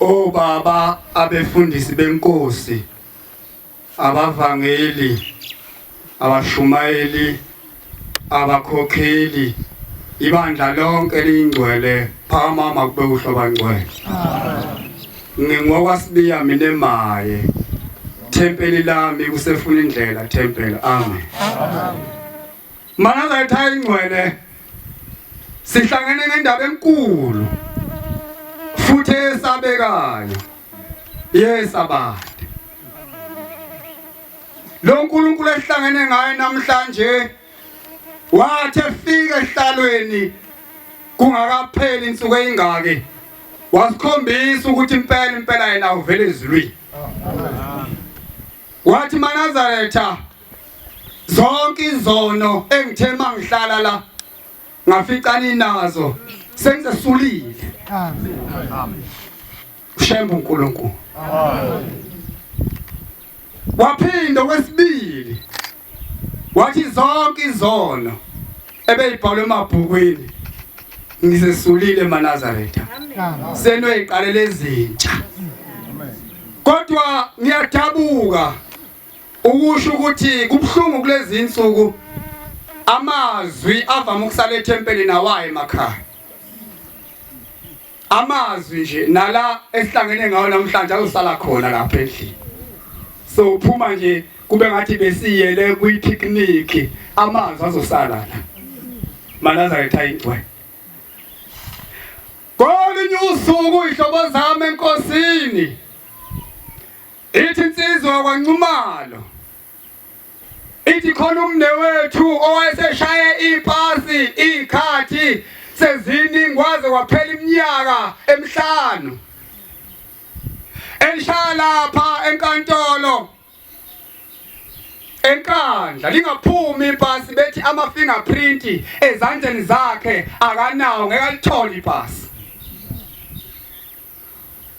obaba abefundisi benkosi abavangeli abashumayeli abakhokheli ibandla lonke liyingcwele phakama makube uhloba ngcwele ngingokwasibiya mina emaye thempeli lami kusefuna indlela thempeli amen Makaza ethaya ingcwele sihlangene nendaba enkulu futhi esabekayo yesabade lo nkulunkulu esihlangene ngaye namhlanje wathi efika ehlalweni kungakapheli insuku eyingaki wasikhombisa ukuthi impela impela yena uvele ezulwini Wathi manazaretha zonke izono engithe mangihlala la ngafica ninazo sengisesulile. Amen. Amen. Shembe uNkulunkulu. Amen. Waphinde kwesibili wathi zonke izono ebeyibhalwe emabhukwini ngisesulile eManazaretha senoyiqalela ezintsha kodwa ngiyadabuka ukusho ukuthi kubhlungu kulezi insuku amazwi avama ukusala ethempelini awaye emakhaya amazwi nje nala esihlangene ngawo namhlanje azosala khona lapha endlini so uphuma nje kube ngathi besiyele kwi picnic amazwi azosala la manazaretha ingcwe kolunye usuku ihlobo zami enkosini ithi insizwa kwanxumalo Ithi khona umnewethu owayeseshaye ipasi ikhathi seziningi waze waphela iminyaka emihlanu elishaya lapha enkantolo enkandla lingaphumi ipasi bethi ama fingerprint ezandleni zakhe akanawo ngeke alithole ipasi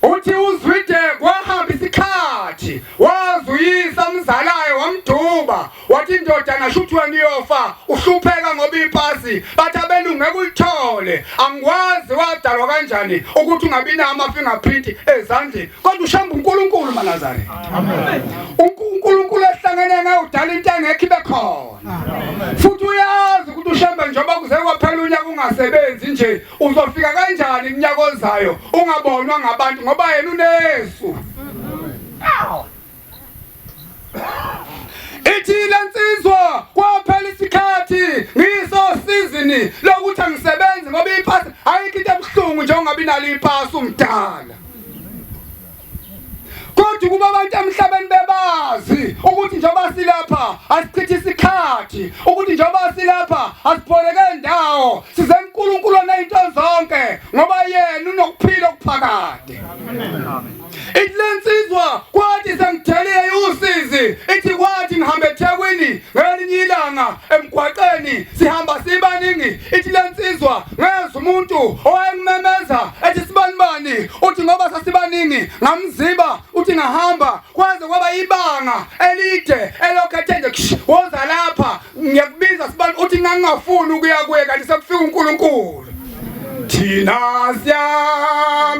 Uthi uZwide kwahamba isikhathi wazuyisa umzalaye wamduba wathi indodana shuthi wena uyofa uhlupheka ngoba ipasi bathi abelungu ngeke ulithole angikwazi wadalwa kanjani ukuthi ungabi nawo ama-fingerprint ezandleni kodwa ushamba unkulunkulu manazareth unkulunkulu ehlangene ngaye udala into engekho ibe khona futhi uyazi ukuthi ushamba njengoba kuze kwaphela unyaka ungasebenzi nje Uzofika kanjani iminyaka ozayo ungabonwa ngabantu ngoba yena unesu. Ithile nsizwa kwaphela isikhathi ngiso sizini lokuthi angisebenzi ngoba ipasi ayikho into ebuhlungu njengoba inalo ipasi umdala. kodwa ukuba abantu emhlabeni bebazi ukuthi njengoba silapha asichithe isikhathi ukuthi njengoba silapha asipholeke ndawo size uNkulunkulu onento zonke ngoba yena unokuphila okuphakade ihlensizwa kwathi sengithelile usizi ithi kwathi ngihambe eThekwini ngelinye ilanga emgwaqeni sihamba sibaningi ithi le nsizwa ngezwa umuntu owayengimemeza ethi sibanibani uthi ngoba sasibaningi ngamziba uthi ngahamba kwaze kwaba ibanga elide elokhu ethe nje "Ksh, woza lapha ngiyakubiza sibani uthi ngangingafuni ukuya kuye kanti sekufika unkulunkulu thina siyam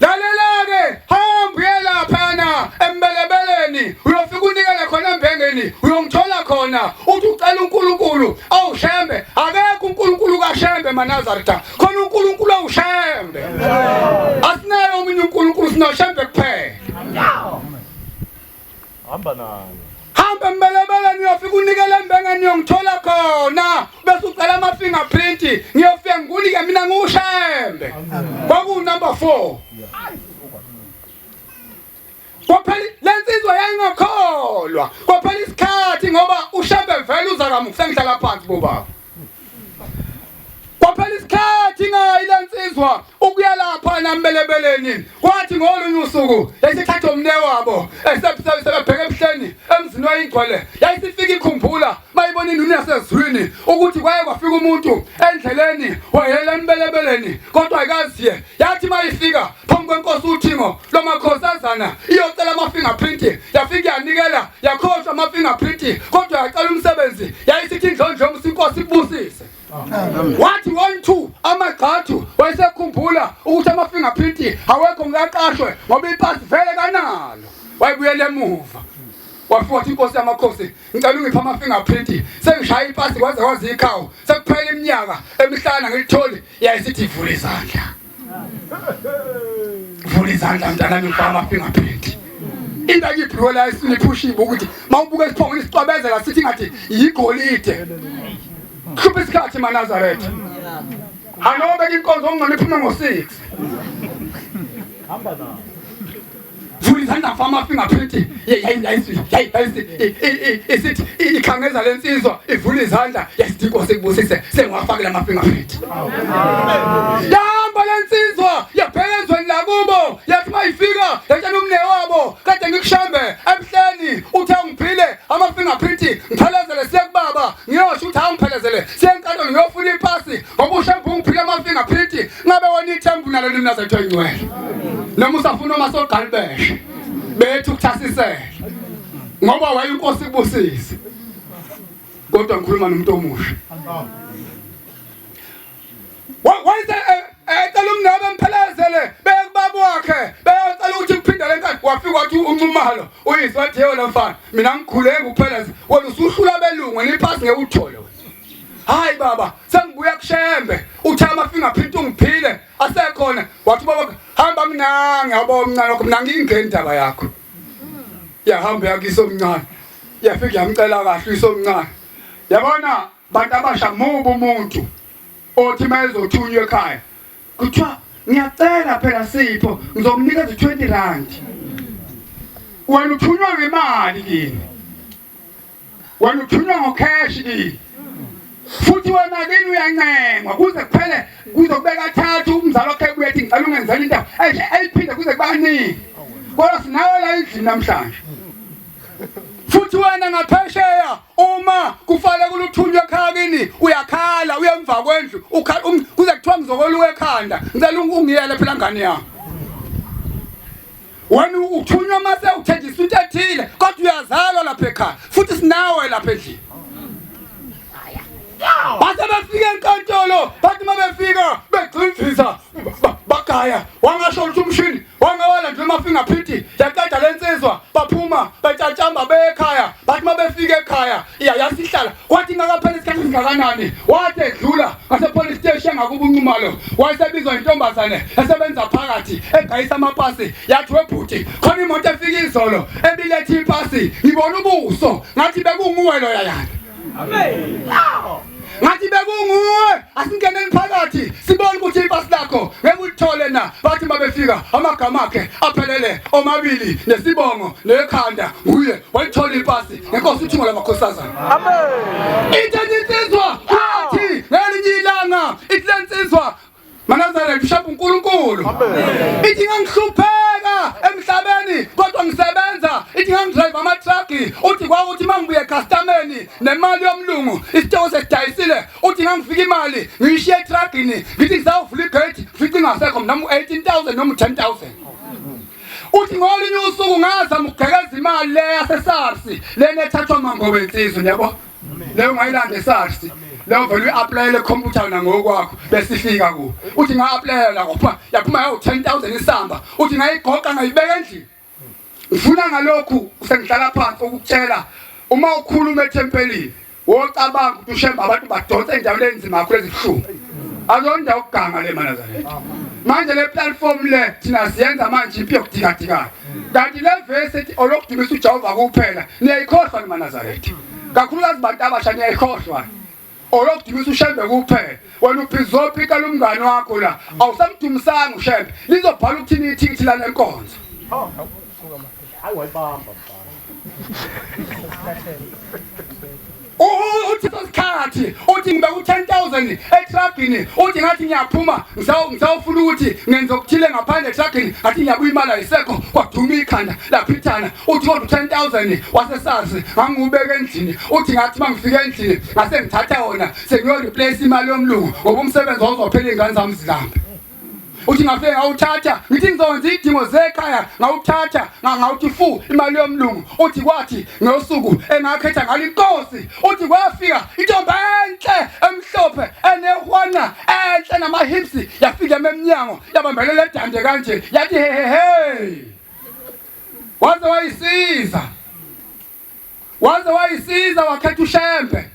lalelake hamba uye laphana embelebeleni uyofika unikele khona embhengeni uyongithola khona uthi ucela unkulunkulu awushembe akekho unkulunkulu kashembe manazarita khona unkulunkulu awushembe asinayo omunye unkulunkulu sinoshembe kuphela Hamba nayo. Hamba embelebele ngiyofika unikele embenge ngiyongithola khona bese ucela ama fingerprint ngiyofika ngikunike mina ngiwushembe. Kwaku number 4. Kwaphela lensizwa yayingakholwa. Kwaphela isikhathi ngoba ushembe vele uza kamuhle ngihlala phansi bobaba. Kwaphela isikhathi ngayi lensizwa ukuyalapha nambelebeleni kwathi ngolunye usuku yayisithatha umne wabo esebheke ebuhleni emzini wayingcwele yayisifika ikhumbula mayibona induni yasezwini ukuthi kwaye kwafika umuntu endleleni wayelela embelebeleni kodwa ayikaziye yathi mayifika phambi kwenkosi uthingo lo makhosazana iyocela ama-fingerprint yafike yanikela yakhohlwa ama-fingerprint kodwa yacela umsebenzi yayisithi indlondlongo sinkosi ikubusise wathi one two amagxathu wayesekhumbula ukuthi ama-fingerprint awekho ngikaqashwe ngoba ipasi vele kanalo wayebuyela emuva wafika wathi inkosi yamakhosi ngicela ungipha ama-fingerprint sengishaya ipasi kwaze kwaze ikhawu sekuphela iminyaka emihlana ngilitholi yayisithi ivula izandla vula izandla mntanami ngifaka ama-fingerprint into akiphiwe la esiniphushiwe ukuthi uma ubuka isiphongo nisicwabezela sithi ngathi yigolide hlupha isikhathi manazaretha anobeka inkonzo ongcono iphume ngo-six hamba nawo Zulu izandla fama fingerprint isithi ikhangeza le nsizwa ivula izandla yasithi inkosi ikubusise sengiwafakela ama-fingerprint yahamba le nsizwa yabheka ezweni lakubo yathi uma ifika yatshela umne wabo kade ngikushambe emhleni uthe ungiphile ama-fingerprint ngiphelezele siye kubaba ngiyosho ukuthi awungiphelezele siye enkantolo ngiyofuna ipasi ngoba ushembe ungiphile ama-fingerprint ngabe wona ithembu nalo limnaza kuthiwa ingcwele noma usafuna uma sogqalibeshe bethu kuthasisele ngoba wayinkosi kubusise kodwa ngikhuluma nomuntu omusha wayise eh, eh, ecela umngane bemphelezele bekubaba wakhe beyocela ukuthi kuphindele enkani wafika wathi uncumalo uyise wathi yewona mfana mina ngikhuleke ukupheleza wena usuhlula belungu niphasi ngeke uthole hayi baba sengibuya kushembe uthe amafingerprint ungiphile asekhona wathi baba hamba mnangi yabo omncane wakho mnangi ingeni indaba yakho yahamba yakiso omncane yafika yamcela kahle iso omncane yabona bantu abasha mubu umuntu othi mayezothunywa ekhaya kuthiwa ngiyacela phela sipho ngizomnikeza 20 rand wena uthunywa ngemali kini Wena uthunywa ngokheshi kini. Futhi wena kini uyancengwa kuze kuphele kuze kube kathathu umzali wakhe kuye ethi ngicela ungenzela into enje eyiphinde kuze kubaningi. Kodwa sinawe la endlini namhlanje. Futhi wena ngaphesheya uma kufanele kuluthunywe ekhaya kini uyakhala uyemva kwendlu ukhala um, kuze kuthiwa ngizokoluka ekhanda ngicela ungiyele phela ngane yami. Wena uthunywa mase uthenjisa into ethile kodwa uyazalwa lapha ekhaya futhi sinawe lapha endlini. Base befika enkantolo bathi uma befika begcinzisa bagaya wangasho ukuthi umshini wangawala nje mafinga phithi yaqeda lensizwa baphuma batshatshamba bekhaya bathi uma befika ekhaya iya yasihlala wathi ngakaphela isikhathi singakanani wathi edlula ngasepolice steshi engakuba unxumalo wayesebizwa intombazane esebenza phakathi egayisa amapasi yathi webhuti khona imoto efika izolo ebilethe ipasi ngibona ubuso ngathi bekunguwe loya yana ngathi bekunguwe asingeneni phakathi sibone ukuthi ipasi lakho ngeke ulithole na bathi mabefika amagama akhe aphelele omabili nesibongo nekhanda nguye walithola ipasi ngenkosi uthungo lamakhosazana amen ithethe insizwa athi ngelinye ilanga ithi le nsizwa manazare bishop unkulunkulu ithi ngangihlupheka emhlabeni kodwa ngisebenza ithi ngangidrive amatraki uthi kwawuthi uma ngibuye ekhastameni nemali yomlungu isitoko sesidayisile uthi ngangifika imali ngiyishiye etragini ngithi ngisawuvula igate ngifice ingasekho mnami u-18 000 noma u-10 000 uthi ngolunye usuku ngaza mugekeza imali le yaseSARS lena ethathwa mangobe insizwe yabo leyo ngayilanda eSARS leyo vele uyi-aplayele computer nangokwakho besifika ku uthi nga-aplayela ngophuma yaphuma yawu 10000 isamba uthi ngayigoqa ngayibeka endlini ngifuna ngalokhu sengihlala phansi ukutshela uma ukhuluma ethempelini Wocabanga ukuthi ushemba abantu badonsa endaweni enzima kakhulu ezibuhlungu. Alonda ukuganga le mana zalento. Manje le platform le thina siyenza manje impi yokudikadikana. Kanti le verse ethi olokudumisa uJehova kuphela niyayikhohlwa ni manazaretha. Kakhulukazi bantu abasha niyayikhohlwa. olokudumisa ushembe kuphela wena uphizopika lomngane wakho la awusamdumisanga ushembe lizobhala ukuthini ithikithi lalenkonzo Hayi wayibamba mfana. U- uthi sesikhathi uthi ngibe ku-10000 etragini uthi ngathi ngiyaphuma ngisawu- ngisawufuna ukuthi ngenze okuthile ngaphandle etragini ngathi ngiyabuya imali ayisekho kwaduma ikhanda laphithana uthi kodwa u-10000 wasesazi ngangiwubeka endlini uthi ngathi uma ngifike endlini ngase ngithatha wona sengiyoreplace imali yomlungu ngoba umsebenzi wawuzophela iy'ngane zami zilambe uthi ngafike ngawuthatha ngithi ngizokwenza iy'dingo zekhaya ngawuthatha ngawuthi fu imali yomlungu uthi kwathi ngosuku engakhetha ngalo inkosi uthi kwafika intombi enhle emhlophe enehwana enhle namahipsi yafika ememnyango yabambelela edande kanje yathi hehehe waze wayisiza waze wayisiza wakhetha ushembe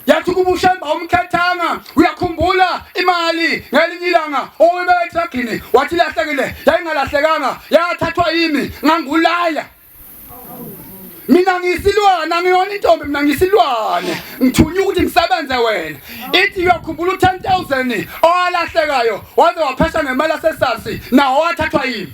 yathi kuba ushembe awumkhethanga uyakhumbula imali ngelinye ilanga owibeka etragini wathi ilahlekile yayingalahlekanga yathathwa yimi ngangulaya mina ngiyisilwane angiyona intombi mina ngiyisilwane ngithunywa ukuthi ngisebenze wena ithi uyakhumbula u-ten thousand owalahlekayo waze waphesha ngemali asesasi nawo wathathwa yimi